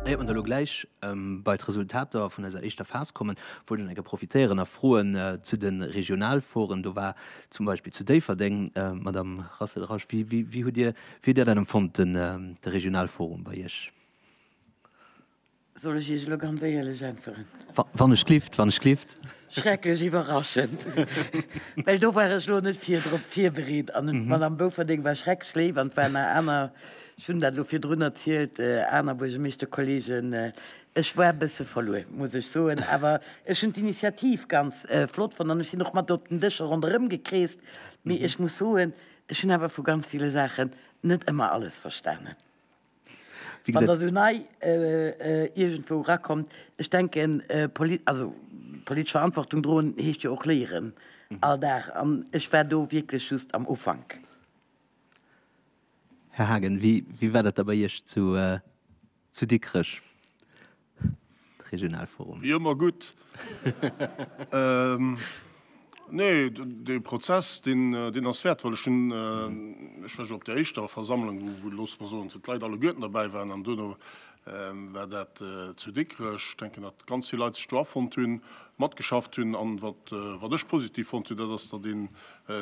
Éiert mer da lo gläich bei d'Resultater vun eiser éischter Phas kommen, wollt ech nach eng Kéier profitéieren a froen zu de Regionalforen. Do war zum Beispill zu Déifferdeng, Madamm Racel-Rasch, wéi hutt Dir dat empfonnt, de Regionalforum bei Iech? Soll ech Iech elo ganz éierlech äntweren? Wann ech glift, wann ech glift. Schrecklech iwwerraschend, well do war ech elo net vir drop virbereet an d'Madame Bouferding war schrecklech léif an et waren nach aner, ech hunn dat elo virdrun erzielt, aner Buergermeeschterkolleegen. Ech war e bësse verluer, muss ech soen, awer ech hunn d'Initiativ ganz flott fonnt an ech sinn och mat op den Dëscher ronderëm gekreest, mee ech muss soen, ech hunn awer vu ganz ville Saachen net ëmmer alles verstanen. Wéi gesäit. Wann Der esou nei iergendwou erakommt, ech denken, also politesch Verantwortung droen heescht jo och léieren all Dag. An ech war do wierklech just am Ufank. Här Haagen, wéi war dat da bei Iech zu Dikrech? Regionalforum. Wéi ëmmer gutt. Nee, dee Prozess, deen ass wäertvoll. Ech hunn, ech war jo op där éischter Versammlung, wou, loosse mer soen, d'Leit alleguerten derbäi waren. An duerno war dat zu Dikrech. Ech denken, datt ganz vill Leit sech do afonnt hunn, matgeschafft hunn. An wat ech positiv fonnt hunn, dat ass, datt een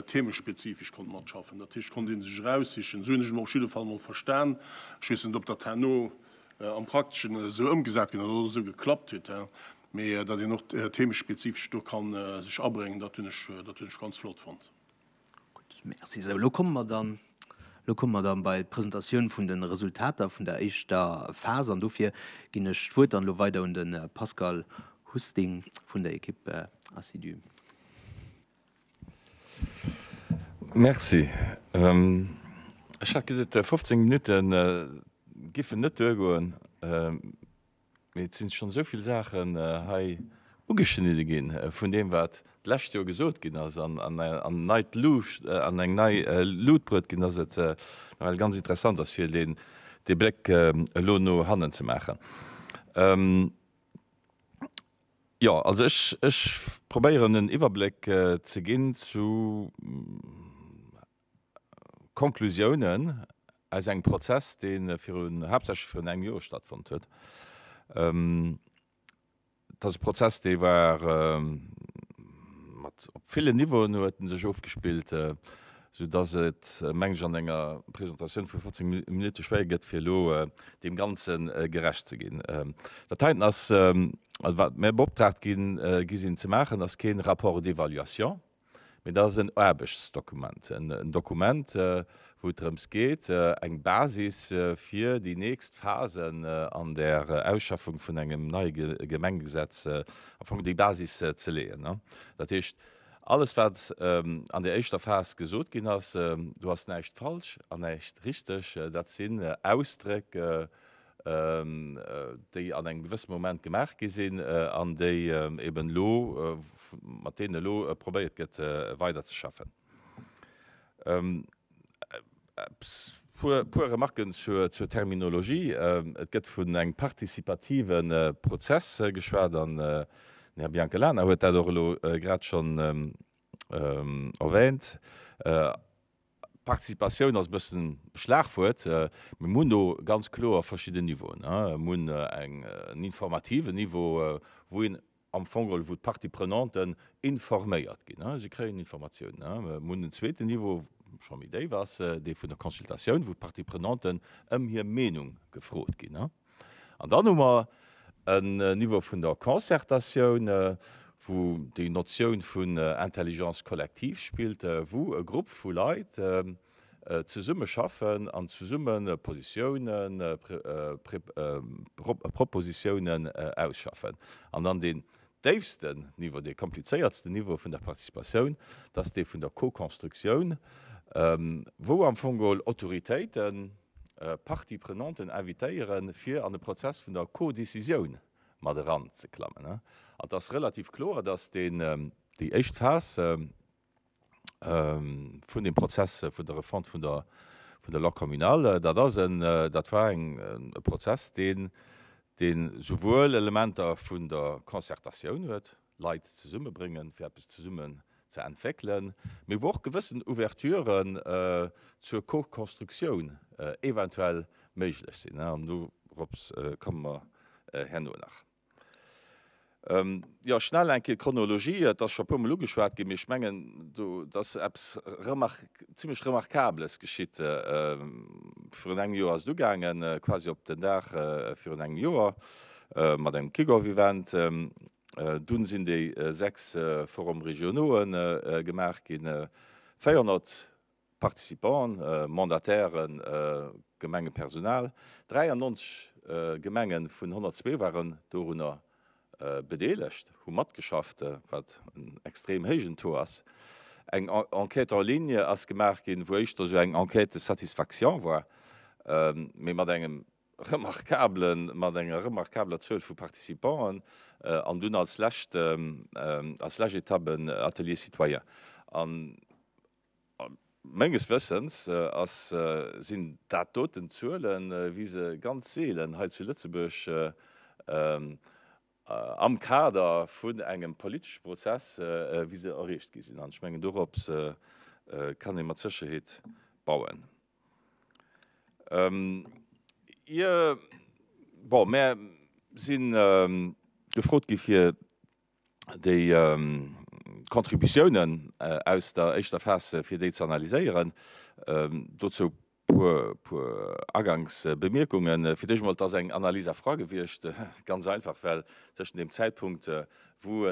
theemespezifesch konnt matschaffen. Dat heescht, et konnt ee sech eraussichen. Esou hunn ech et och op jidde Fall emol verstan. Ech weess net, ob dat herno am Prakteschen esou ëmgesat ginn oder esou geklappt huet, mee datt een och theemespezifesch do ka sech abréngen, dat hunn ech, dat hunn ech ganz flott fonnt. Gutt, merci. Esou, elo komme mer dann, elo komme mer dann bei d'Presentatioun vun de Resultater vun der éischter Phas an dofir ginn ech d'Wuert dann elo weider un de Pascal Husting vun der Equipe Assidu. Merci. Ech hat geduet 15 Minutte giffen net duergoen, mee et si schonn esou vill Saachen hei ugeschnidde ginn vun deem wat d'lescht Joer gesot ginn ass an an eng nei Luucht an eng nei Lut bruet ginn, datt et nawell ganz interessant ass fir deen dee Bléck elo no hannen ze maachen. Jo, also ech, ech probéieren en Iwwerbléck ze ginn zu Konklusiounen aus engem Prozess, dee virun, haaptsächlech virun engem Joer stattfonnt huet. Et ass e Prozess, dee war mat, op villen Niveauen huet en sech ofgespillt. sou dass et, meng ech, an enger Presentatioun vu 15 Minutte schwéier gëtt, fir elo deem Ganze gerecht ze ginn. Dat heiten ass, also wat mir beoptraagt gi sinn ze maachen, ass kee Rapport d'évaluation, mee dat ass en Aarbechtsdokument, en Dokument, wou et drëms geet, eng Basis fir déi nächst Phase an der Ausschaffung vun engem neie Gemengegesetz, am Fong déi Basis ze leeën. Dat heescht, Alles wat an der éischter Phas gesot ginn ass, do ass näischt falsch an näischt richteg. Dat sinn Ausdréck, déi an engem gewësse Moment gemaach gi sinn an déi eben elo, mat deenen elo probéiert gëtt weiderzeschaffen. E puer Remarken zur Terminologie. Et gëtt vun engem participative Prozess geschwat an den Här Biancalana huet dat och elo grad schonn erwähnt. Participatioun ass e bëssen e Schlagwuert, mä mir hunn do ganz kloer verschidden Niveauen. Mir hunn en informativen Niveau, wou een am Fong geholl, wou d'Parties prenantes informéiert ginn. Si kréien Informatiounen. Mir hunn en zweeten Niveau, scho méi déif ass, dee vun der Consultatioun, wou d'Parties prenantes ëm hir Meenung gefrot ginn. An dann hu mer en Niveau vun der Concertatioun, wou déi Notioun vun Intelligence collective spillt, wou e Grupp vu Leit, Zesumme schaffen an zesumme Positiounen, Propositiounen ausschaffen. An dann deen déifsten Niveau, dee komplizéiertsten Niveau vun der Participatioun, dat ass dee vun der Co-Constructioun, wou am Fong geholl Autoritéiten d'Parties prenantes invitéieren, fir an de Prozess vun der Co-Décisioun mat eranzeklammen. Et ass relativ kloer, dass déi éischt Phas, vun dem Prozess vun der Refonte vun der vun der Loi communale. Dat ass en, dat war eng, e Prozess, deen, deen souwuel Elementer vun der Concertatioun huet, Leit zesummebréngen, fir eppes zesummen ze entwéckelen, mee wou och gewëssen Ouverturen zur Co-constructioun eventuell méiglech sinn. An dorops komme mer herno nach. Jo, schnell eng Kéier d'Chronologie. Et ass scho e puer Mol ugeschwat ginn, mee ech mengen, do ass eppes remar, zimmlech Remarkabeles geschitt. Virun engem Joer ass et ugaangen, quasi op den Dag virun engem Joer, mat engem Kick-Off-Event. Dunn sinn déi sechs Forums régionaux'en gemaach ginn. 400 Participanten, Mandatairen, Gemengepersonal, 93 Gemenge vun 102 waren dorunner bedeelegt, hu matgeschafft, wat en extrem héijen Taux ass. Eng Enquête en ligne ass gemaach ginn, wou éischter esou eng Enquête de satisfaction war, mee mat engem remarkablen, mat enger remarkabler Zuel vu Participanten. An dunn als lescht, als lescht Etapp en Atelier citoyen. Menges Wëssens ass sinn dat doten Zuelen, wéi se ganz seelen hei zu Lëtzebuerg am Kader vun engem politesche Prozess, wéi se erreecht gi sinn. An ech mengen, dorops kann ee mat Sécherheet bauen. Ier, bon, mär sinn gefrot gi fir déi Contributiounen aus der éischter Phas, fir déi ze analyséieren. Dozou e puer Aganksbemierkungen. Fir d'éischt emol, et ass eng Analyse à froid gewiescht, ganz einfach, well tëschent deem Zäitpunkt, wou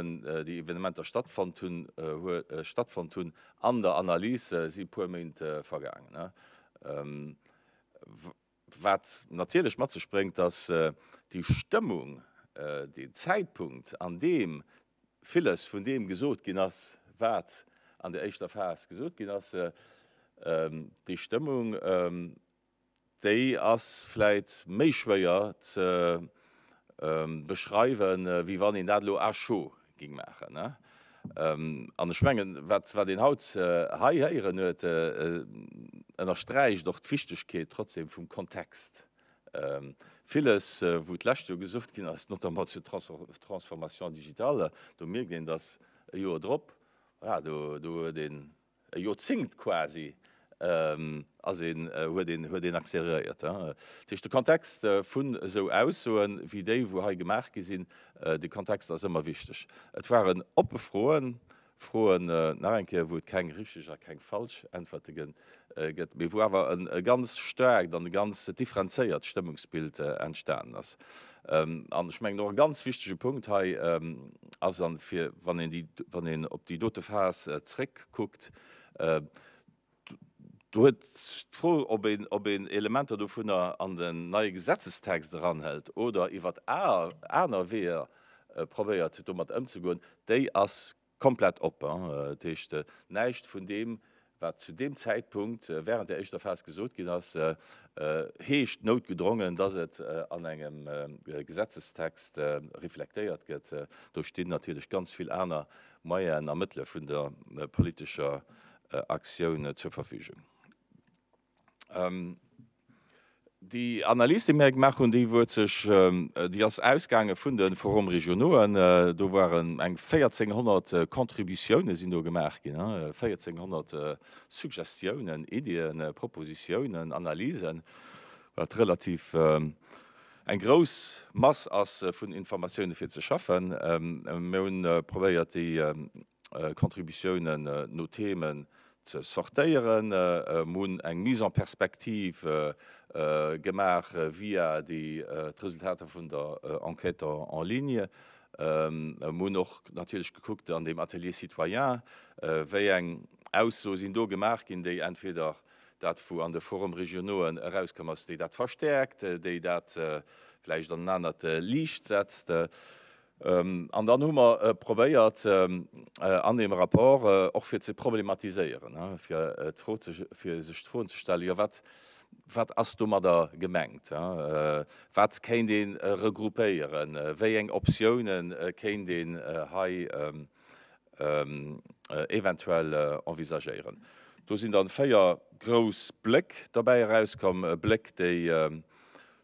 déi Evenementer stattfonnt hunn, an der Analys si e puer Méint vergaangen. Wat natierlech mat sech bréngt, dass déi Stëmmung, deen Zäitpunkt, an deem villes vun deem gesot ginn ass, wat an der éischter Phas gesot ginn ass, déi Stëmmung, déi ass vläit méi schwéier ze beschreiwen, wéi wann een dat elo à chaud Ging maachen, ne? An ech mengen, wat een haut hei héieren huet, ënnersträicht och d'Wichtigkeet trotzdem vum Kontext. Villes, wou d'lescht Joer gesot ginn ass, notamment zur Transformation digitale, do mierkt een, dass e Joer drop, voilà, do huet een E Joerzéngt quasi ass een, huet een, huet een accéléréiert. Dat heescht, de Kontext vun esou Aussoen, wéi déi wou hei gemaach gi sinn, de Kontext ass ëmmer wichteg. Et waren oppe Froen, Froen, nach eng Kéier, wou et keng richteg a keng falsch Äntwerte gëtt, mee wou awer e ganz staarkt an e ganz differenzéiert Stëmmungsbild entstanen ass. An ech mengen, och e ganz wichtige Punkt hei ass, a fir wann een op déi dote Phas zréckkuckt, do huet d'Fro, ob een Elementer dovunner an den neie Gesetzestext eranhëlt oder iwwert aner Weeër probéiert, domat ëmzegoen, déi ass Komplett op, dat heescht näischt vun deem, wat zu deem Zäitpunkt während der éischter Phas gesot ginn ass, heescht noutgedrongen, dass et an engem Gesetzestext reflektéiert gëtt. Do stinn natierlech ganz vill aner Moyenen a Mëttele vun der politescher Aktioun zur Verfügung. Déi Analys, déi mir gemaach hunn, déi huet sech, déi ass ausgaange vun de Forums régionauxen. Do waren eng 1.400 Contributiounen sinn do gemaach ginn, 1.400 Suggestiounen, Iddien, Propositiounen, Analysen, wat relativ eng grouss Mass ass vun Informatiounen, fir ze schaffen. Mir hu probéiert, déi Contributiounen no Themen ze sortéieren, mir hunn eng Mise en perspective gemaach via déi d'Resultater vun der Enquête en ligne. Mir hunn och natierlech gekuckt an deem Atelier citoyen, wéi eng Aussoe sinn do gemaach ginn, déi entweder dat wou an de Forum régionauxen erauskomm ass, déi dat verstärkt, déi dat vläicht an en anert Liicht setzt. An dann hu mer probéiert an deem Rapport och fir ze problematiséieren, fir sech d'Froen ze stellen, jo wat ass domadder gemengt, wat kéint ee regroupéieren, wéi eng Optioune kéint een hei eventuell envisagéieren. Do sinn dann véier grouss Bléck dobäi erauskomm, Bléck déi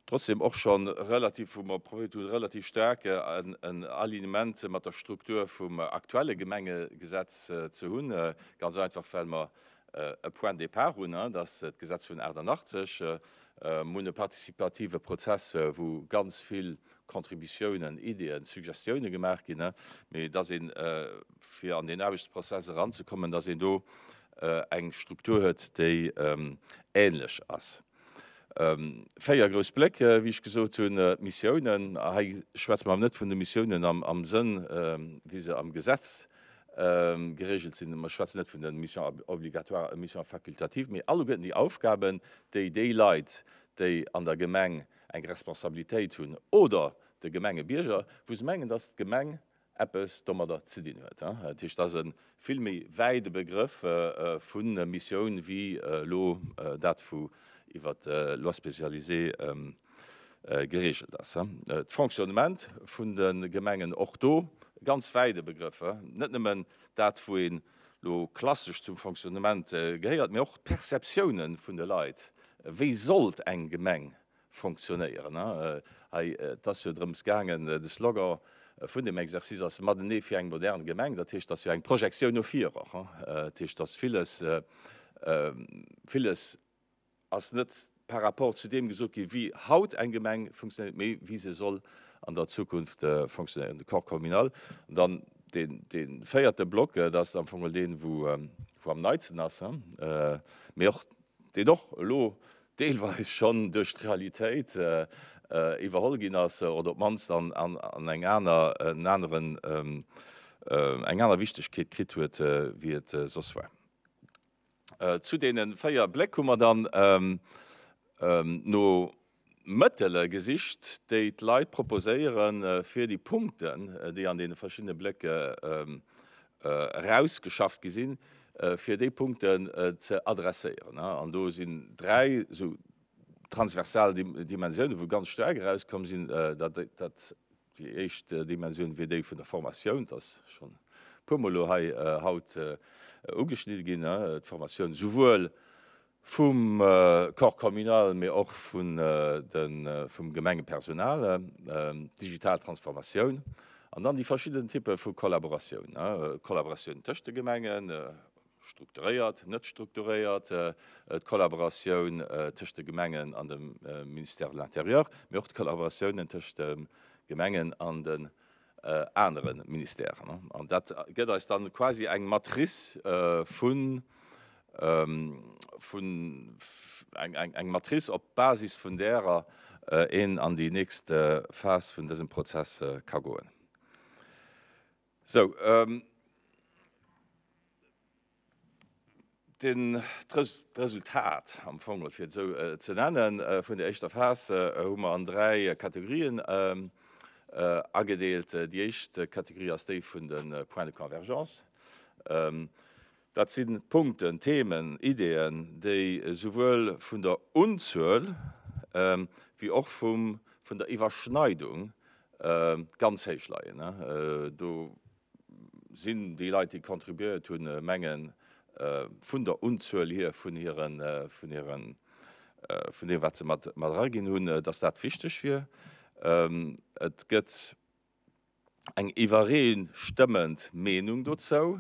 trotzdem och scho relativ, wou mer probéiert hunn, e relativ staarke Alignement mat der Struktur vum aktuelle Gemengegesetz ze hunn, ganz einfach well mer e Point de départ hunn, dat ass d'Gesetz vun 88, mer hunn e participative Prozess, wou ganz vill Contributiounen, Ideeën, Suggestiounen gemaach ginn, mee dass een, fir an deen Aarbechtsprozess eranzekommen, dass een do eng Struktur huet, déi ähnlech ass. Véier grouss Bléck, wéi ech gesot hunn, Missiounen. A hei schwätze mer awer net vun de Missiounen am Sënn, wéi se am Gesetz geregelt sinn. Mer schwätzen net vun de Missions obligatoires, Missions facultatives, mee alleguerten déi Aufgaben, déi déi Leit, déi an der Gemeng eng Responsabilitéit hunn, oder de Gemengebierger, wou se mengen, dass d'Gemeng eppes domadder ze dinn huet. Dat heescht, et ass e vill méi wäide Begrëff vu Missioun wéi elo dat vu iwwer d'Lois spécialisées gereegelt ass. D'Fonctionnement vun de Gemengen, och do e ganz wäide Begrëff, net nëmmen dat wou een elo klassesch zum Fonctionnement gehéiert, mee och d'Perceptiounen vun de Leit, wéi sollt eng Gemeng fonctionnéieren. Hei, et ass jo drëms gaangen, de Slogan vun deem Exercice ass Matenee fir eng modern Gemeng. Dat heescht, et ass jo eng Projektioun no vir och. Dat heescht, dass villes, villes ass net par rapport zu deem gesot ginn, wéi haut eng Gemeng funktionéiert, mee wéi se soll an der Zukunft funktionéieren, de Corps communal. An dann deen, dee véierte Block, dat ass am Fong geholl deen, wou, wou am neitsten ass, mee och, deen och elo deelweis schonn duerch d'Realitéit iwwerholl ginn ass oder op d'mannst an eng aner en aneren eng aner Wichtegkeet kritt huet wéi et soss war. Zu deene véier Bléck hu mer dann no. Mëttele gesicht, déi d'Leit proposéieren, fir déi Punkten, déi an deene verschiddene Blécke erausgeschafft gi sinn, fir déi Punkten ze adresséieren. An do sinn dräi esou transversal Dimensioune wou ganz staark erauskomm sinn, dat. Déi éischt Dimensioun wier déi vun der Formatioun. Dat ass schonn e puermol elo hei haut ugeschnidde ginn. D'Formatioun esouwuel vum Corps communal, mee och vum Gemengepersonal. D'digital Transformatioun an dann déi verschidden Typpe vu Kollaboratioun, Kollaboratioun tëscht de Gemengen, Strukturéiert, net strukturéiert, d'Kollaboratioun tëscht de Gemengen an dem Ministère de l'Intérieur, mee och d'Kollaboratiounen tëscht de Gemengen an den anere Ministèren. An dat gëtt eis dann quasi eng Matrice vun, vun, eng Matrice op Basis vun därer een an déi nächst Phas vun dësem Prozess ka goen. Sou, d'Resultat am Fong, fir et esou ze nennen, vun der éischter Phas hu mer an dräi Kategorien agedeelt. Déi éischt Kategorie ass déi vun de Points de convergence. Dat si Punkten, Themen, Ideeën, déi esouwuel vun der Unzuel wéi och vun der Iwwerschneidung ganz héich leien. Do sinn déi Leit, déi contribuéiert hunn, menge vun der Unzuel hier, vun deem, wat se mat eraginn hunn, datt dat wichteg wier. Et gëtt eng iwwereestëmmend Meenung dozou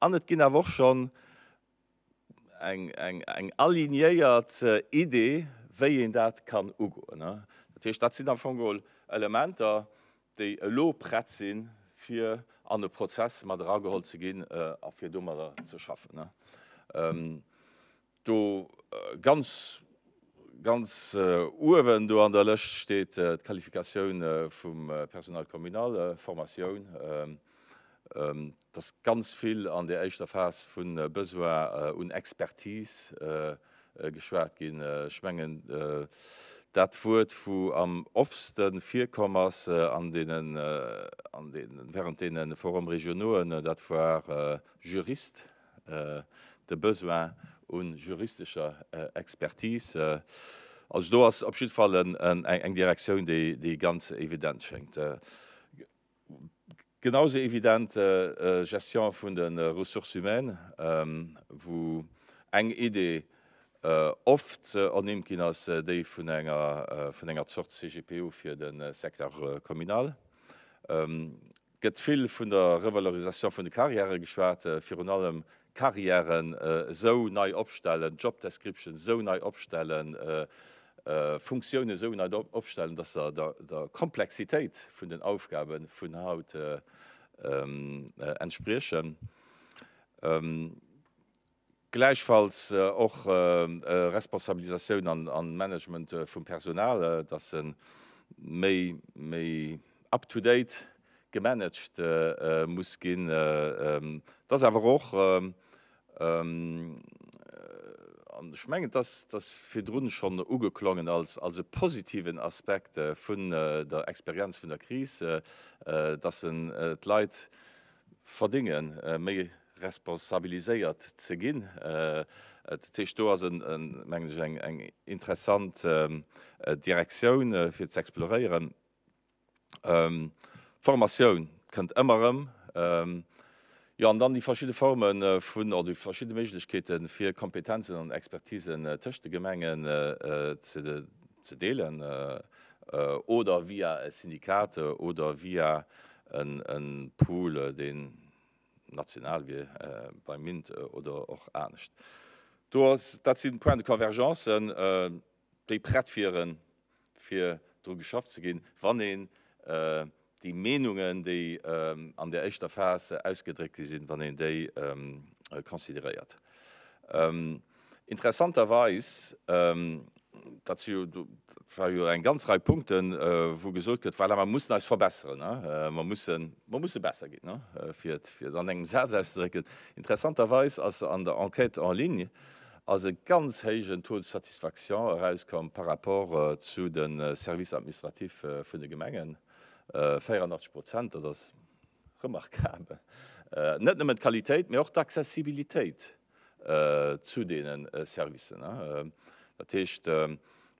an et ginn awer och schonn eng alignéiert Idee, wéi een dat kann ugoen. Dat heescht, dat sinn am Fong geholl Elementer, déi elo prett sinn, fir an e Prozess mat erageholl ze ginn a fir domadder ze schaffen. Do ganz, ganz uewen do an der Lëscht steet d'Qualifikatioun vum Personnel communal, Formatioun. Et ass ganz vill an där éischter Phas vu Besoin un Expertise geschwat ginn. Ech mengen, dat Wuert, wou am offste virkomm ass an deenen, an deenen, während deene Forum-régionauxen, dat war Jurist. de Besoin u juristescher Expertise. Also do ass op jiddwer Fall eng Direktioun, déi ganz evident schéngt. Genausou evident Gestion vun de Ressources humaines, wou eng Idee oft ernimmt ginn ass, déi vun enger Zort CGPU fir de Secteur communal. gëtt vill vun der Revalorisation vun de Carrièrë geschwat, virun allem Carrièren esou nei opstellen, Job Descriptions esou nei opstellen, Funktiounen esou nei opstellen, dass se der Komplexitéit vun den Aufgabe vun haut entspriechen. Gläichfalls och Responsabilisatioun an Management vum Personal, dass se méi méi up to date gemanagt muss ginn. Et ass awer och, an ech mengen, et ass virdrun schonn ugeklongen als e positiven Aspekt vun der Experienz vun der Kris, dass se d'Leit verdénge méi responsabiliséiert ze ginn. Dat heescht, do ass, mengen ech, eng interessant Direktioun fir ze exploréieren. D'Formatioun kënnt ëmmer erëm. Jo, an dann déi verschidde Forme vun, oder déi verschidde Méiglechkeete fir Kompetenzen an Expertisen tëscht de Gemengen ze deelen oder via e Syndikat oder via e Pool, deen national wier beim Mint oder och anescht. Do ass, dat si Points de convergence, déi prett wieren, fir dru geschafft ze ginn, wann een déi Meenungen, déi an där éischter Phas ausgedréckt gi sinn, wann een déi consideréiert. Interessanterweis, dat si jo, dat war jo eng ganz Rei Punkten, wou gesot gëtt, voilà, mer mussen eis verbesseren, mer mussen, mer musse besser ginn, fir et, fir et an engem Saz auszedrécken. Interessanterweis ass an der Enquête en ligne ass e ganz héijen Taux de satisfaction erauskomm par rapport zu de Services administratifs vun de Gemengen, 84 Prozent, dat ass. Remarkabel! Net nëmmen d'Qualitéit, mee och d'Accessibilitéit zu deene Servicen. Dat heescht,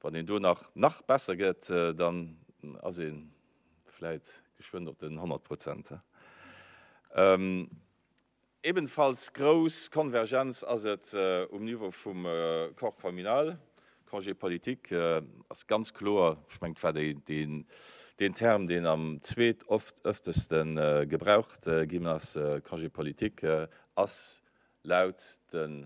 wann een do nach nach besser gëtt, dann ass ee vläit geschwënn op den 100 Prozent. Ebenfalls grouss Konvergenz ass et um Niveau vum Corps communal, Congé politique ass ganz kloer, ech mengen, et war deen Term, deen am zweet oft-ëfteste gebraucht ginn ass, Congé politique ass laut de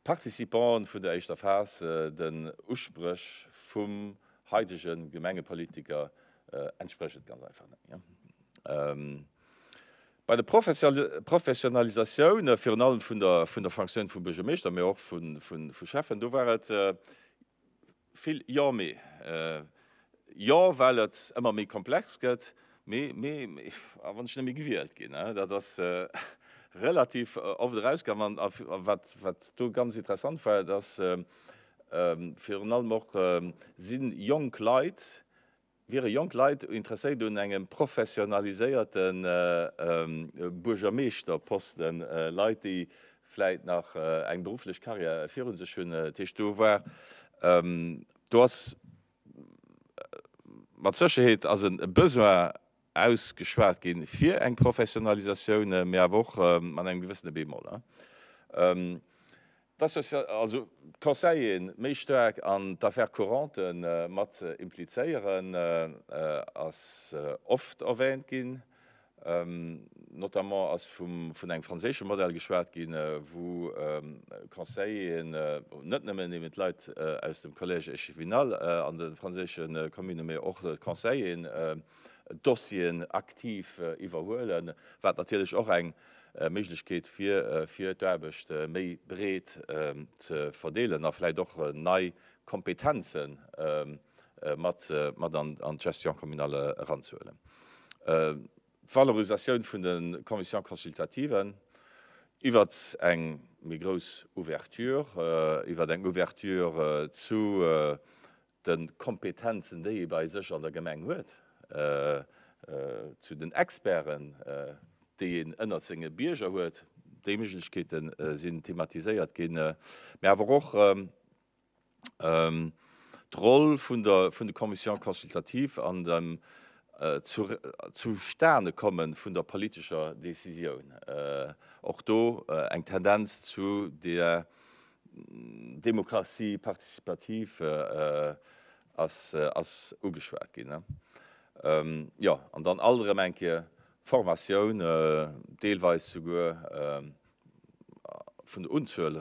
Participanten vun der éischter Phas den Uspréch vum haidege Gemengepolitiker entspriechend ganz einfach net. Bei de Professionalisatioune virun allem vun der Fonctioun vum Buergermeeschter, mä och vu Schäffen, do war et vill Jo, mä Jo, well et ëmmer méi komplex gëtt, mä a wann ech nëmme gewielt ginn, dat ass relativ oft erauskomm. A wat do ganz interessant war, et ass virun allem och, si jonk Leit, Wiere jonk Leit interesséiert un engem professionaliséierte Buergermeeschterposten, Leit, déi vläit nach eng berufflech Carrière viru sech hunn, dat heescht, do war, do ass mat Sécherheet ass e Besoin ausgeschwat ginn fir eng Professionalisatioun, mee awer och mat engem gewëssene Bémol. Also d'Conseiller méi staark an d'Affaires couranten mat implizéieren ass oft erwähnt ginn. Notamment ass vun engem franséische Modell geschwat ginn, wou Conseilleren net nëmmen eben d'Leit aus dem Collège échevinal an de franséische Communne, mee och d'Conseilleren Dossieren aktiv iwwerhuelen, wat natierlech och eng Méiglechkeet wier, fir d'Aarbecht méi breet ze verdeelen a vläicht och nei Kompetenze mat an d'Gestion communale eranzehuelen. D'Valorisatioun vun de Commissions consultativen iwwert eng méi grouss Ouverture, iwwert eng Ouverture zu de Kompetenzen, déi ee bei sech an der Gemeng huet, zu den Experten, déi een ënnert senge Bierger huet. Déi Méiglechkeete sinn thematiséiert ginn, mä awer och d'Roll vun de Commissions consultatives an dem Zustanekomme vun der politescher Décisioun. Och do eng Tendenz zu där D'Demokratie participativ ass ugeschwat ginn. Jo, an dann alt erëm eng Kéier Formatioun, deelweis souguer vun der Unzuel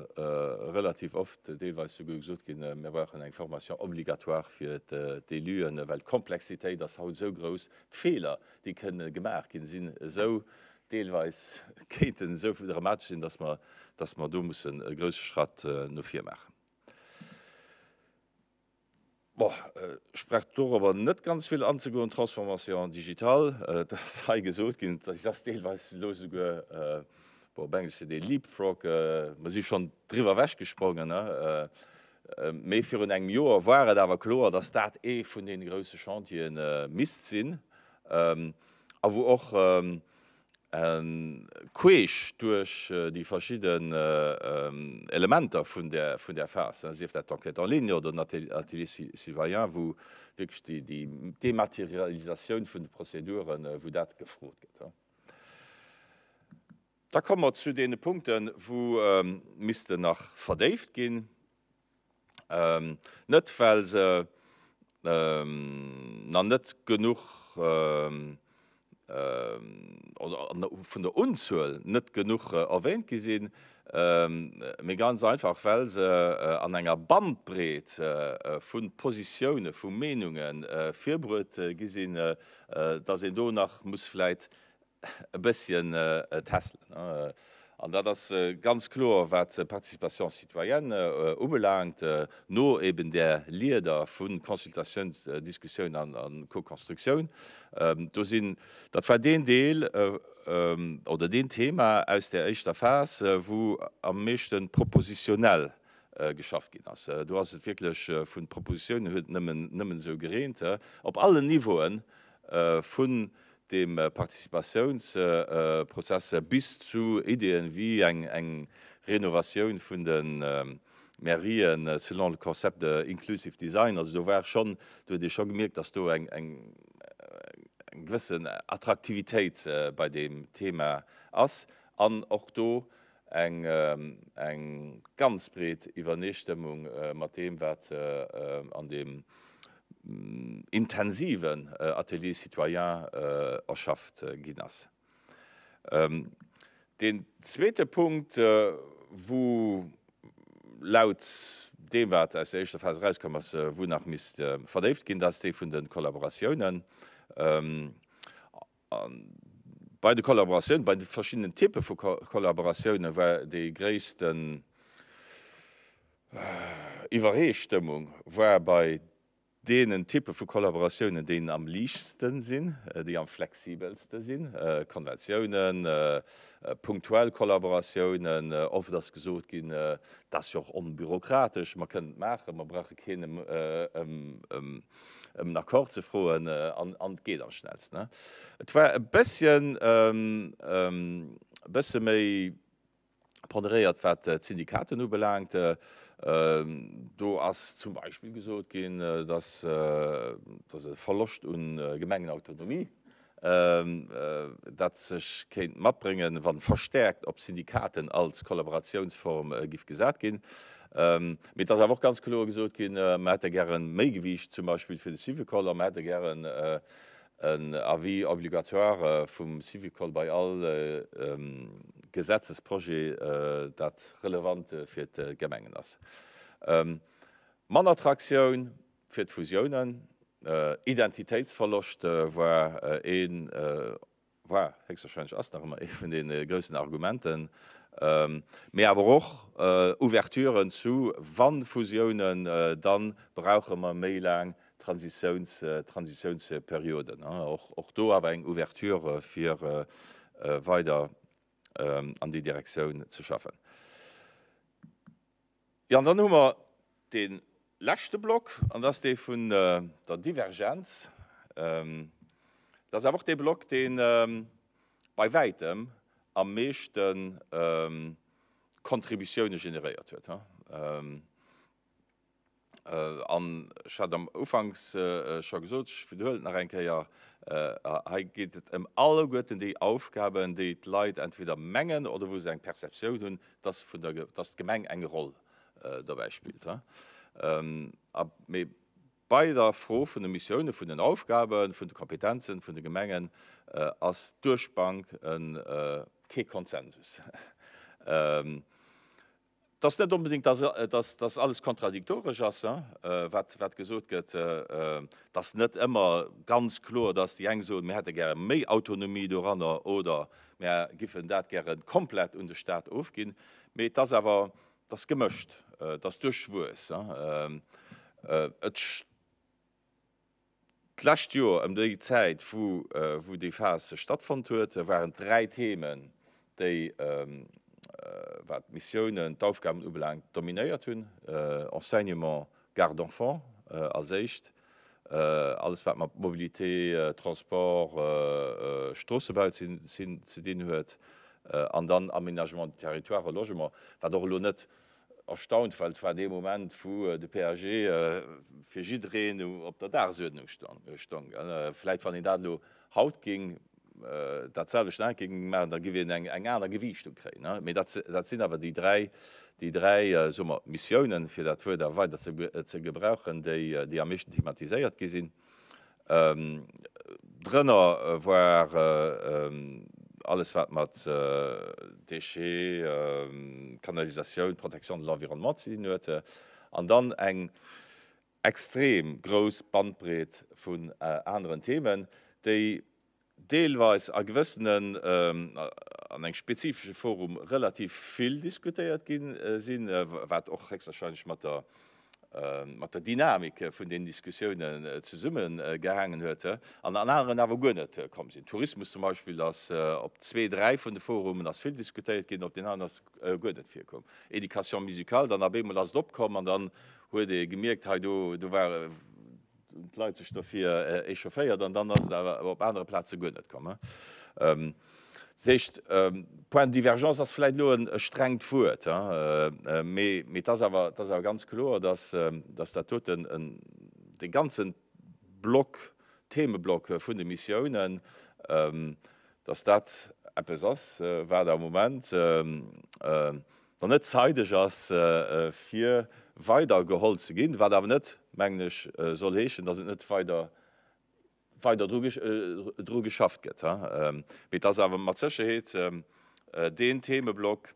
relativ oft, deelweis souguer gesot ginn, mir brauchen eng Formation obligatoire fir d'Eluen, well d'Komplexitéit ass haut esou grouss, d'Feeler, déi kënne gemaach ginn, sinn esou Deelweis kéint en esou dramatesch sinn, dass mer, dass mer do mussen e grouse Schratt no vir maachen. Bon, ech brauch dorobber net ganz vill anzegoen. D'Transformation digitale, et ass hei gesot ginn, si ass deelweis elo esouguer, bon, op Englesch seet ee leapfrog, mer si schonn driwwer ewechgesprongen. Mee virun engem Joer war et awer kloer, dass dat ee vun deene grouse Chantieren misst sinn. a wou och queesch duerch déi verschidden Elementer vun där Phas, sief dat d'Enquête en ligne oder den Atelier citoyen, wou wierklech déi Dématerialisatioun vun de Prozeduren, wou dat gefrot gëtt. Da komme mer zu deene Punkten, wou missten nach verdéift ginn. Net well se na net genuch vun der Unzuel net genuch erwähnt gi sinn, mee ganz einfach well se an enger Bandbreet vu Positiounen, vu Meenungen virbruet gi sinn, dass een do nach muss vläit e bësschen tässelen. An dat ass ganz kloer, wat d'Participation citoyenne ubelaangt, no eben där Leader vu Consultatioun, Diskussioun a Co-Constructioun. Do sinn, dat war deen Deel oder deen Thema aus där éischter Phas, wou am meeschte propositionnel geschafft ginn ass. Do ass et wierklech vun Propositiounen, huet nëmmen esou gereent, op allen Niveauen vun dem Participatiounsprozesser bis zu Ideen wéi eng Renovatioun vun de Mairien selon le concept de inclusive design. Also do war schonn, do huet ee scho gemierkt, datt do eng gewëssen Attraktivitéit bei deem Thema ass an och do eng ganz breet Iwwerneestëmmung mat deem, wat an deem intensiven Atelier citoyen erschafft ginn ass. Deen zweete Punkt, wou laut deem, wat aus der éischter Phas erauskomm ass, wou nach misst verdéift ginn, dat ass dee vun de Kollaboratiounen. A bei de Kollaboratioune, bei de verschiddenen Typpe vu Kollaboratioune war déi gréissten Iwweree-stëmmung war bei deenen Typpe vu Kollaboratiounen, déi am liichtste sinn, déi am flexibelste sinn, Konventiounen, punktuell Kollaboratiounen. Oft ass gesot ginn, dat ass jo och onbürokratesch, mer kënnen et maachen, mer brauche keen ëm ëm en Accord ze froen, an et geet am schnellsten. Et war e bësschen bësse méi ponderéiert, wat d'Syndikaten ubelaangt. Do ass zum Beispill gesot ginn, datt e Verloscht u Gemengenautonomie dat sech kéint matbréngen, wa verstäerkt op Syndikaten als Kollaboratiounsform giff gesat ginn. Mee et ass awer och ganz kloer gesot ginn, mer hätte gäre méi Gewiicht zum Beispill fir de Syvicol a mer hätte gären en Avis obligatoire vum Syvicol bei all Gesetzesprojet, dat relevant fir d'Gemengen ass. Mann Attraktioun. Fir d'Fusiounen, Identitéitsverloscht war een, war, héchstwahrscheinlech ass nach ëmmer ee vun den groussen Argumenten, mee awer och Ouverturen zu, wa Fusiounen, dann brauche mer méi laang Transitiouns, Transitiounsperioden. Och do awer eng Ouverture fir weider an déi Direktioun ze schaffen. Jo, an dann hu mer dee leschte Block, an dat ass dee vun der Divergenz. Dat ass awer och dee Block, dee bei wäitem am meeschte Contributioune generéiert huet. An ech hat am Ufanks scho gesot, ech widerhuelen et nach eng Kéier, Hei geet et ëm alleguerten déi Aufgaben, déi d'Leit entweder mengen oder wou se eng Perceptioun hunn, dass vun der dass d'Gemeng eng Roll dobäi spillt. A mee bei der Fro vun de Missioune, vun den Aufgaben, vun de Kompetenzen vun de Gemengen ass duerch d'Bank kee Konsensus. Et ass net onbedéngt, dass dass alles kontradiktoresch ass, wat wat gesot gëtt, dass net ëmmer ganz kloer, dass déi eng soen, mir hätte gäre méi Autonomie doranner oder Mär giffen dat gären komplett un de Staat ofginn, mee et ass awer, et ass gemëscht, et ass duerchwuess. Et d'lescht Joer ëm déi Zäit, wou déi Phas stattfonnt huet, waren d'dräi Themen déi, wat d'Missiounen, d'Aufgaben ubelaangt, dominéiert hunn, Enseignement, Garde d'enfants als éischt, alles wat mat Mobilité, Transport, Stroossebau ze dinn huet, an dann Aménagement du territoire a Logement, wat och elo net erstaunt, well et war dee Moment, wou de PAG fir jiddereen op der Dagesuerdnung stoung. Vläicht wann een dat elo haut géing dat selwecht Aenke géing maachen, da géif een eng aner Gewiichtung kréien. Mee dat sinn awer déi dräi, déi dräi, soe mer, Missiounen, fir dat Wuert awer weider ze gebrauchen, déi am meeschten thematiséiert gi sinn. Drënner war alles, wat mat Déchets, Kanalisatioun, Protection de l'environnement ze dinn huet. An dann eng. extrem grouss Bandbreet vun aneren Themen, déi deelweis a gewëssenen, an engem spezifesche Forum relativ vill diskutéiert gi sinn, wat och héchstwahrscheinlech mat der Dynamik vun deenen Diskussiounen zesummegehaangen huet, an an aneren awer guer net komm sinn. Tourismus zum Beispill ass op zwee, dräi vun de Forumen ass vill diskutéiert ginn, op deenen aneren ass guer net virkomm. Éducation musicale, dann op eemol ass et opkomm an dann huet ee gemierkt, hei do, do war, hunn d'Leit sech dofir echaufféiert an dann ass et awer op anere Plaze guer net komm. Dat heescht, Point de divergence ass vläit elo e strengt Wuert, mee et ass awer, et ass awer ganz kloer, datt dat doten, dee ganze Block, Themeblock vun de Missiounen, datt dat eppes ass, wat am Moment Wann net zeideg ass fir weider geholl ze ginn, wat awer net, mengen ech, soll heeschen, datt et net weider weider dru dru geschafft gëtt, mee et ass awer mat Sécherheet deen Themeblock,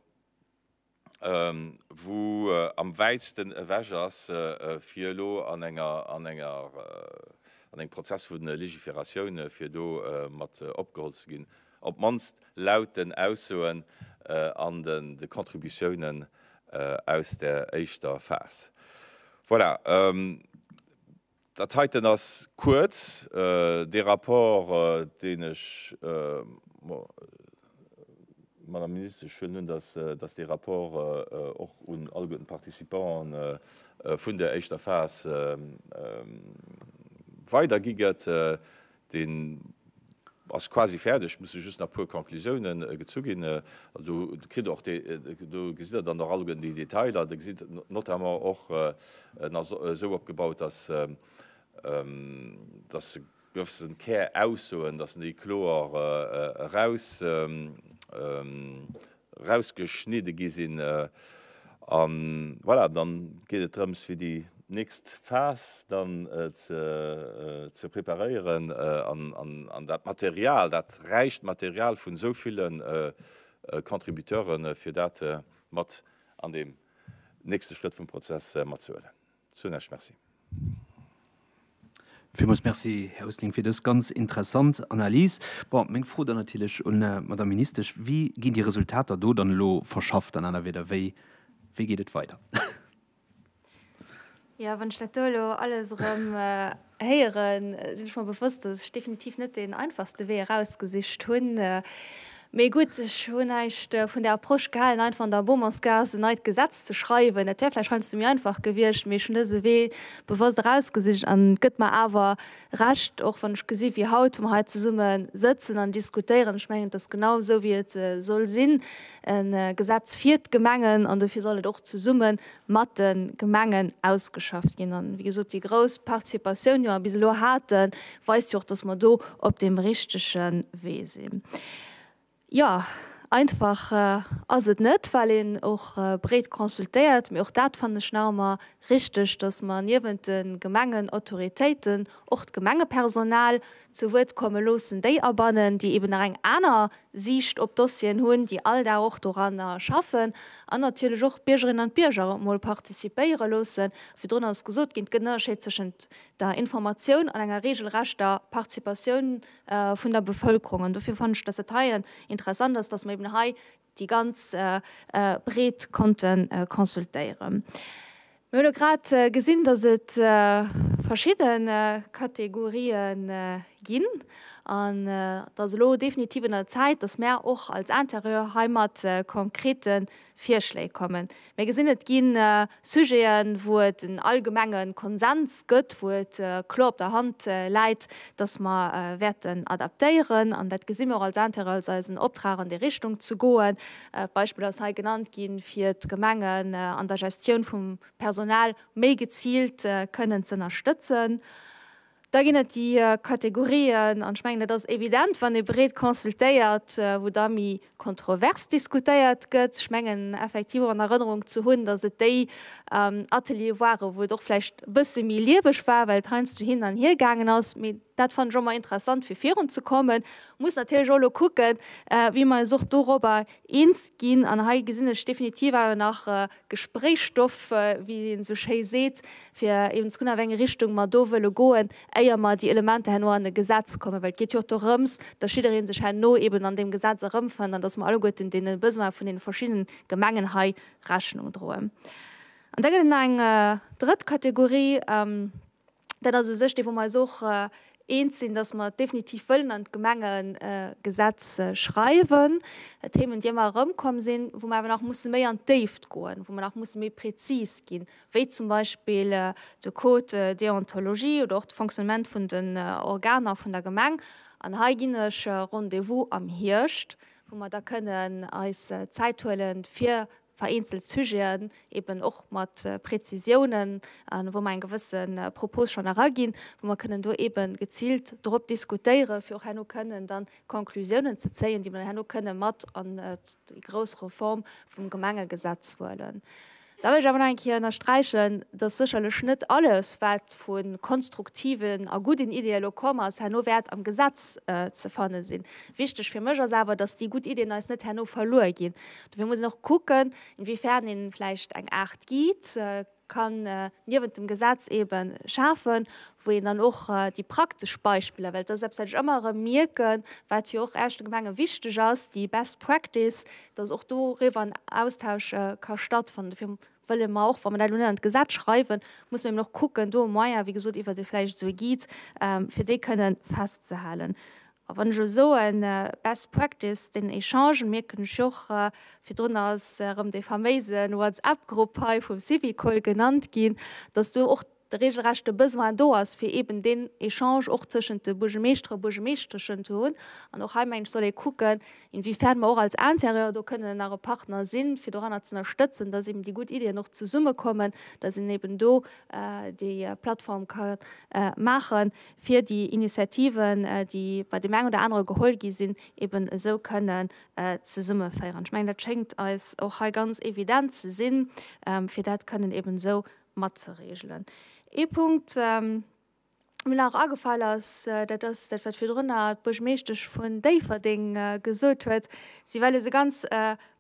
wou am wäitsten ewech ass, fir elo an enger an enger an engem Prozess vu Legiferatioun, fir do mat opgeholl ze ginn, op d'mannst laut den Aussoen an de Contributiounen aus der éischter Phas. Voilà, dat heiten ass kuerz dee Rapport, deen ech, Madame Ministesch, ech huelen un, dass dee Rapport och un alleguerten d'Participanten vun der éischter Phas weidergi gëtt. Deen ass quasi fäerdeg, et musse just nach e puer Conclusioune gezu ginn. Do kritt Der och déi, do gesitt Der dann och all déi Detailer. Der gesitt notamment och, en ass esou opgebaut, dass e gewëssen Käraussoen, dass en déi kloer eraus, rausgeschnidde gi sinn a voilà, dann geet et drëms fir déi nächst Phas dann ze preparéieren an dat Material, dat räicht Material vun esou ville Contributeuren, fir dat mat an deem nächste Schrëtt vum Prozess matzehuelen. Soen ech Merci. Villmools Merci, Här Oosling, fir dës ganz interessant Analys. Bon, meng Fro dann natierlech un d'Madamm Ministesch, Wéi ginn déi Resultater do dann elo verschafft? An aner Wierder, wéi geet et weider? Jo, wann ech dat do elo alles erëm. Héieren, sinn ech mer bewosst, dass ech definitiv net deen einfachste Wee erausgesicht hunn. Mee gutt, ech hunn näischt vun der Approche gehalen, einfach an der Beaumontgaass en neit Gesetz ze schreiwen. Dat wär vläicht heiansdo méi einfach gewiescht, mee ech hunn dëse Wee bewosst erausgesicht. An et gëtt mer awer Recht, och wann ech gesi wéi haut, wa mer hei zesumme sëtzen an diskutéieren. Ech mengen, et ass genau esou, wéi et soll sinn, e Gesetz fir d'Gemengen, an dofir soll et och zesumme, mat de Gemengen ausgeschafft ginn. An, wéi gesot, déi grouss Participatioun, déi mer bis elo haten, weist jo och, dass mer do op deem richtege Wee sinn. Jo, einfach ass et net, well een och breet consultéiert. Mee och dat fannen ech nach ëmmer richtig, dass mer niewent de Gemengenautoritéiten och d'Gemengepersonal zu Wuert komme loossen, déi abannen, déi eben nach eng aner Siicht op d'Dossieren hunn, déi all Dag och doranner schaffen, an natierlech och d'Biergerinnen an d'Bierger och emol participéiere loossen. Virdrun ass gesot ginn, et gëtt en Ënnerscheed tëschent der Informatioun an enger regelrechter Participatioun vun der Bevëlkerung. An dofir fannen ech, dass et hei interessant ass, dass mer eben hei déi ganz Breet konnte consultéieren. Mir hunn grad gesinn, dass et verschidde Kategorien ginn an et ass elo definitiv un der Zäit, dass mär och als Interieur heimat konkrete Virschléi kommen. Mir gesinn, et gi Sujeten, wou et en allgemenge Konsens gëtt, wou et kloer op der Hand läit, datt mer wäerten adaptéieren. An dat gesi mir och als Intérêt, als eisen Optrag an déi Richtung ze goen. D'Beispill ass hei genannt ginn, fir d'Gemengen an der Gestioun vum Personal méi geziilt kënnen z'ënnerstëtzen. Da ginn et déi Kategorien, an ech mengen, et ass evident, wann ee breet consultéiert, wou da méi kontrovers diskutéiert gëtt. Ech mengen effektiv och an Erënnerung ze hunn, datt et déi Ateliere waren, wou et och vläicht e bësse méi lieweg war, well et heiansdo hin an hier gaangen ass. Mee dat fannen ech och ëmmer interessant, fir virunzekommen. Muss natierlech och elo kucken, wéi mer eis och dorobber eens ginn. An hei gesinn ech definitiv awer nach Gespréichsstoff, wéi een esou schéi seet, fir eben ze kucken, a wéi eng Richtung mer do wëlle goen, éier mer déi Elementer herno an e Gesetz kommen. Well et geet jo och dorëms, dass jidderee sech herno eben an deem Gesetz erëmfënnt an dass mer alleguerten deene Besoine vun deene verschidde Gemengen hei Rechnung droen. An da gëtt et nach eng drëtt Kategorie, Dat ass u sech dee wou mer eis och eens sinn, datt mer definitiv wëllen an d'Gemengegesetz schreiwen. Themen déi ëmmer erëmkomm sinn, wou mer awer nach musse méi an d'Déift goen, wou mer nach musse méi prezis ginn, wéi zum Beispill de Code déontologie oder och de Fonctionnement vun den Organer vun der Gemeng. An hei ginn ech Rendez-vous am Hierscht, wou mer da kënnen eis Zäit huelen, fir vereenzelt Sujeten eben och mat Präzisiounen, wou mer eng gewësse Propos schonn eraginn, wou mer kënnen do ebe geziilt dorop diskutéieren, fir och herno kënnen dann Konklusiounen ze zéien, déi mer dann herno kënnen mat an déi grouss Reform vum Gemengegesetz huelen. Da wëll ech awer nach eng Kéier ënnersträichen, dass sécherlech net alles, wat vu konstruktiven a gudden Ideeë elo komm ass, herno wäert am Gesetz ze fanne sinn. Wichtig fir mech ass awer, dass déi gutt Ideen eis net herno verluer ginn. Dofir muss een och kucken, inwiefern ee vläicht eng Aart Guide kann niewent dem Gesetz eebe schafen, wou een dann och déi praktesch Beispiller, well dat ass eppes, wat ech ëmmer erëm mierken, wat jo och eischte Gemenge wichteg ass, déi best practice, dass och doriwwer en Austausch ka stattfannen. Dofir wëlle mer och, wa mer dat elo net an d'Gesetz schreiwen, muss mer eben och kucken, do e Moyen, wéi gesot, iwwert vläicht esou e Guide, fir déi kënnen festzehalen. A wann ech elo soen best practice, den Echange, mierken ech och, virdrun ass erëm dee faméise WhatsApp-Grupp hei vum Syvicol genannt ginn, datt do och reegelrecht de Besoin do ass, fir eeben deen Echange och tëschent de Buergermeeschtere a Buergermeeschteschen ze hunn. An och hei, meng ech, soll ee kucken, inwiefern mer och als Interieur do kënnen nach e Partner sinn, fir doranner ze ënnerstëtzen, datt eeben déi gutt Iddien och zesummekommen, datt een eeben do déi Plattform ka maachen, fir déi Initiativen, déi bei deem eng oder anere geholl gi sinn, eben esou kënnen zesummeféieren. Ech mengen, dat schéngt eis och hei ganz evident ze sinn, fir dat kënnen eben esou matzereegelen. Ee Punkt, dee mir nach agefall ass, dat ass dat, wat virdrun d'Buergermeeschtesch vun Déifferdeng gesot huet, Si well esou ganz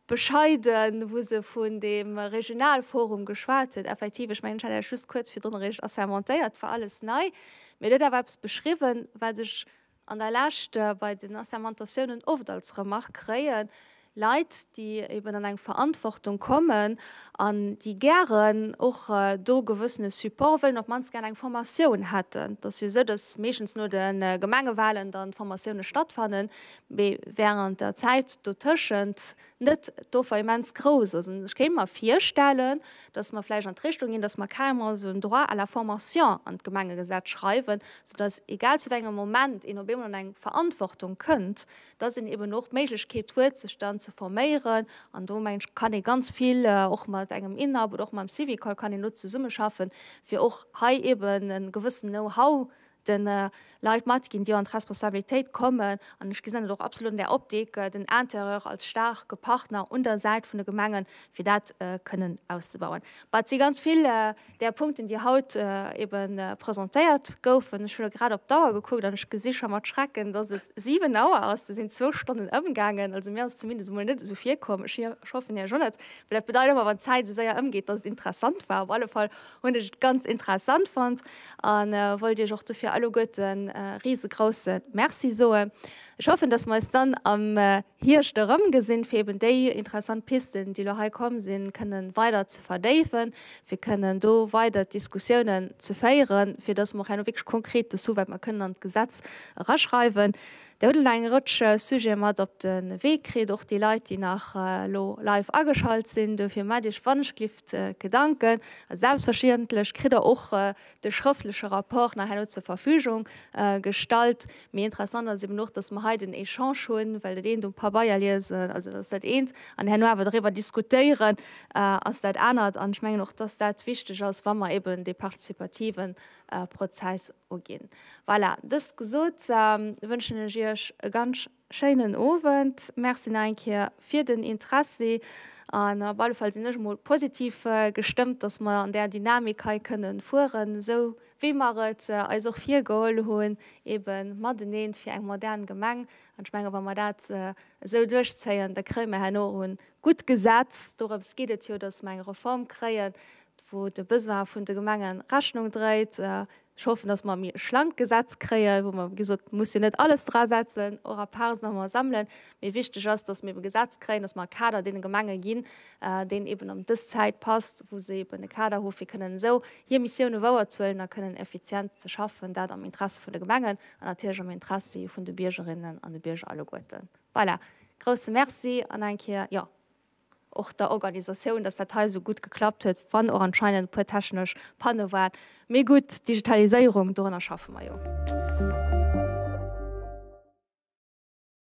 Bescheiden, wou se vun deem Regionalforum geschwat huet, effektiv, ech mengen, ech hat Iech just kuerz virdrun eréischt assermentéiert, et war alles nei, mee et huet awer eppes beschriwwen, wat ech an der Lescht bei den Assermentatiounen oft als Remark kréien, Leit, déi eben an eng Verantwortung kommen an déi gären och do gewëssene Support wëllen, op d'mannst gären eng Formatioun hätten. Et ass jo esou, dass meeschtens no de Gemengewalen dann d'Formatioune stattfannen, mee während der Zäit dotëschent net d'Offer immens grouss ass. An ech kéint mer virstellen, dass mer vläicht an d'Richtung ginn, dass mer carrement esou en Droit à la formation an d'Gemengegesetz schreiwen, soudass, egal zu wéi engem Moment een op eemol an eng Verantwortung kënnt, dass een eben och d'Méiglechkeet huet, sech dann ze forméieren. An do, mengen ech, kann ee ganz vill och mat engem INAP oder och mam Syvicol kann een elo zesummeschaffen, fir och hei eben e gewëssenen Know-how den Leit matginn, déi an d'Responsabilitéit kommen, an ech gesinn et och absolut an där Optik, den Intérieur als staarke Partner un der Säit vun de Gemengen, fir dat kënnen auszebauen. Mä et si ganz vill där Punkten, déi haut ebe presentéiert goufen. Ech hu elo grad op d'Auer gekuckt an ech gesi scho mat Schrecken, dass et siwen Auer ass. Do sinn zwou Stonnen ëmgaangen. Also mir ass et zumindest emol net esou virkomm. Ech hoffen Iech och net, well dat bedeit ëmmer, wann d'Zäit esou séier ëmgeet, dass et interessant war. Op alle Fall Hunn ech ganz interessant fonnt an wollt iech och dofir alleguerten en riesegroussen Merci soen. Ech hoffen dass mer eis dann am Hierscht erëm gesinn fir eben déi interessant Pisten déi lo hei komm sinn kënnen weider ze verdéifen, fir kënnen do weider d'Diskussiounen ze féieren, fir dass mer och herno wierklech konkret des hu wat mer kënnen an d'Gesetz eraschreiwen. Dir hutt elo nach eng Rëtsch Sujete mat op de Wee kritt, och déi Leit, déi nach elo live ageschalt sinn. Dofir maacht Iech wannechglift Gedanken. A selbstverständlech kritt Der och de schrëftleche Rapport nach herno zur Verfügung gestallt. Mee interessant ass eben och, dass mer hei den Echange hunn, well dat eent um Pabeier liesen, also dat ass dat eent, an herno awer doriwwer diskutéieren ass dat anert. An ech mengen och, dass dat wichteg ass, wa mer eben dee partizipativen Prozess Uginn. Voilà, dëst gesot, wënschen ech Iech e ganz schéinen Owend. Merci nach eng Kéier fir den Interessi an op alle Fall sinn ech emol positiv gestëmmt, dass mer an där Dynamik hei kënnen fueren, esou wéi mer et eis och virgeholl hunn, ebe matenee fir eng modern Gemeng. An ech menge wa mer dat esou duerchzéien, da kréie mer herno och e gutt Gesetz, dorëms geet et jo, dass mer eng Reform kréien, wou de Besoin vun de Gemenge Rechnung dréit. Ech hoffen, datt mer e méi schlankt Gesetz kréien, wou mer, wéi gesot, et muss jo net alles drasetzen, och a Parts nach emol sammelen, mee wichteg ass, datt mer eben e Gesetz kréien, datt mer e Kader deene Gemenge ginn, deen eben an dës Zäit passt, wou se eben e Kader hu fir kënnen esou hir Missioune wouerzehuelen a kënnen effizient ze schaffen, dat am Interesse vun de Gemengen an natierlech am Interessi vun de Biergerinnen an de Bierger alleguerten. Voilà, grousse Merci an eng Kéier, jo. och der Organisatioun, dass dat hei esou gutt geklappt huet, wann och anscheinend e puer technesch Panne waren. Mee gutt, d'Digitaliséierung, dorunner schaffe mer jo.